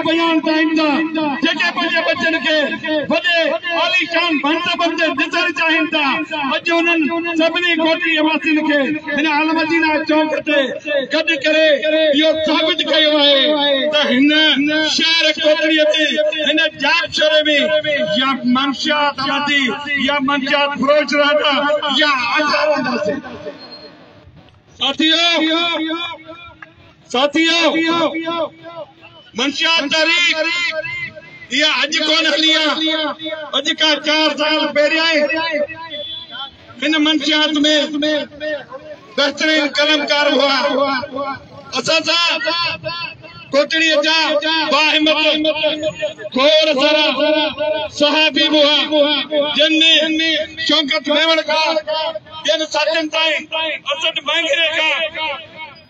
بيان ته ايندا جيڪي پنهنجي ٻچن کي وڏي عاليشان مرتبن تي ڏسڻ چاهين ٿا اڄ انهن سڀني ڳوٺي واسين کي هن المدينه چوڪ تي گڏ ڪري اهو ثابت ڪيو آهي ته هن شهر ڪوٽڙي جي هن جاپشوري ۾ يا منشيات آبادي يا منشيات فروش رهندا يا آزاد رهنداسين ساٿيو ساٿيو! منشيات تحريڪ اها اڄ ڪونه هلي آ، اڄ کان چار سال پهريائين هن منشيات ۾ بهترين قلمڪار هئا. اسان سان ڪوٽڙيء جا باهمت گور سرا صحافي به هئا، جن ۾ شوڪت ميوڻ کان ٻين ساٿين تائين، اسد مهنگري کان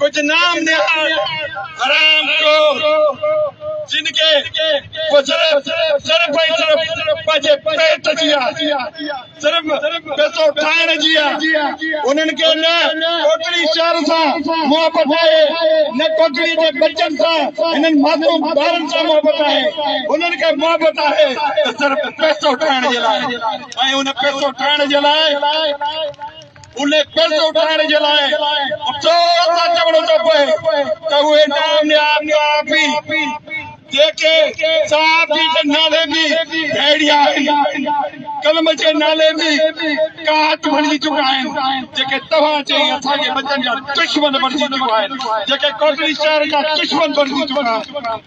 ڪجهه نام نهاد حرام خور جن کي صرف صرف پنهنجي پيٽ جي آهي صرف پيسو ٺاهڻ جي آهي انهن کي نه ڪوڪڙي شهر سان محبت آهي نه ڪوڪڙي جي بچن سان انهن معصوم ٻارن سان محبت آهي انهن کي محبت آهي صرف پيسو ٺاهڻ جي لاء ۽ ان پيسو ٺاهڻ جي لاء ان قرض اٿائڻ جي لاء چور ٿا چوڻو ٿو پئي ته اهي ناميار صحافي جيڪي صحافي جي نالي به ڀيڙي آهن قلم جي نالي به ڪاٽ بڻجي چڪا آهن جيڪي توهان چئي اسان جي ٻچن جا دشمن بڻجي چڪا آهن جيڪي ڪوٽڙي شهر جا دشمن بڻجي چڪا آهن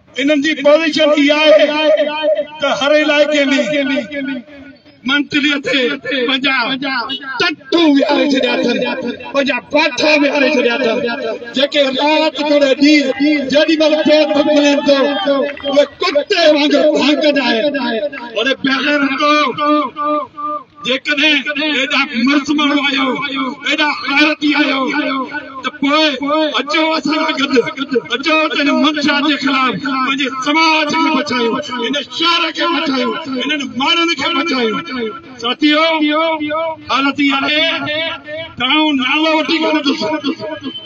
انهن جي پوزيشن اها آهي ته هر علائقي ۾ منتري تي پنهنجا ٽٽو ويهاري ڇڏيا اٿن، پنهنجا پاٺا ويهاري ڇڏيا اٿن، جيڪي رات توڙي ڏينهن جيڏي مهل پير ٿو کلين ٿو اهي ڪتي وانگر ڀانڪندا آهن. هن بغيرتو جيڪڏهن ايڏا مرد ماڻهو آهيو، ايڏا غيرتي آهيو ته پوء اچو اسان سان گڏ، اچو ته هن منشيات جي خلاف پنهنجي سماج کي بچايون، هن شهر کي بچايون، هنن ماڻهن کي بچايون. ساٿيو! حالت اها آهي ته آئون نالو وٺي ڪونه ڏسندس.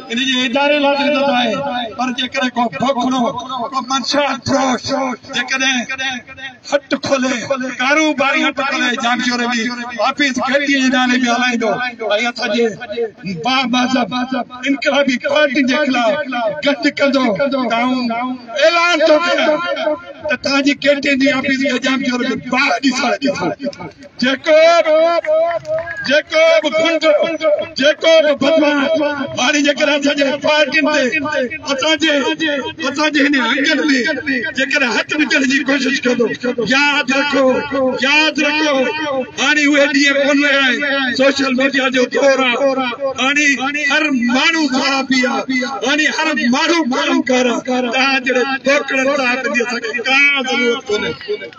ان جي اداري لاء عزت آهي پر جيڪڏهن ڪو کوکلو، ڪو منشا فروش جيڪڏهن هٽ کولي، ڪاروباري هٽ کولي جانچوري جي، آفيس گهٽيء جي نالي به هلائيندو ۽ اسان جي بامذهب انقلابي پارٽين جي خلاف گڏ ڪندو ته آئون اعلان ٿو ڪريان ته تنهنجي گهٽين جي آفيس جي جانچوري کي باهه ڏسڻ ڏي ٿو. جيڪو جيڪو به ڪنڊو جيڪو به بدمان ماري جيڪر اسان جي پارٽين تي اسان جي اسان جي هن انگن ۾ جيڪر هٿ وجهڻ جي ڪوشش ڪندو ياد رکو ياد رکو هاڻي اهي ڏينهن ڪون رهيا آهن سوشل ميڊيا جو دور آهي هاڻي هر ماڻهو صحافي آهي هاڻي هر ماڻهو قلمڪار آهي تنهنجهڙي ٽوڪڙن صاحب جي اسان کي ڪا ضرورت ڪونهي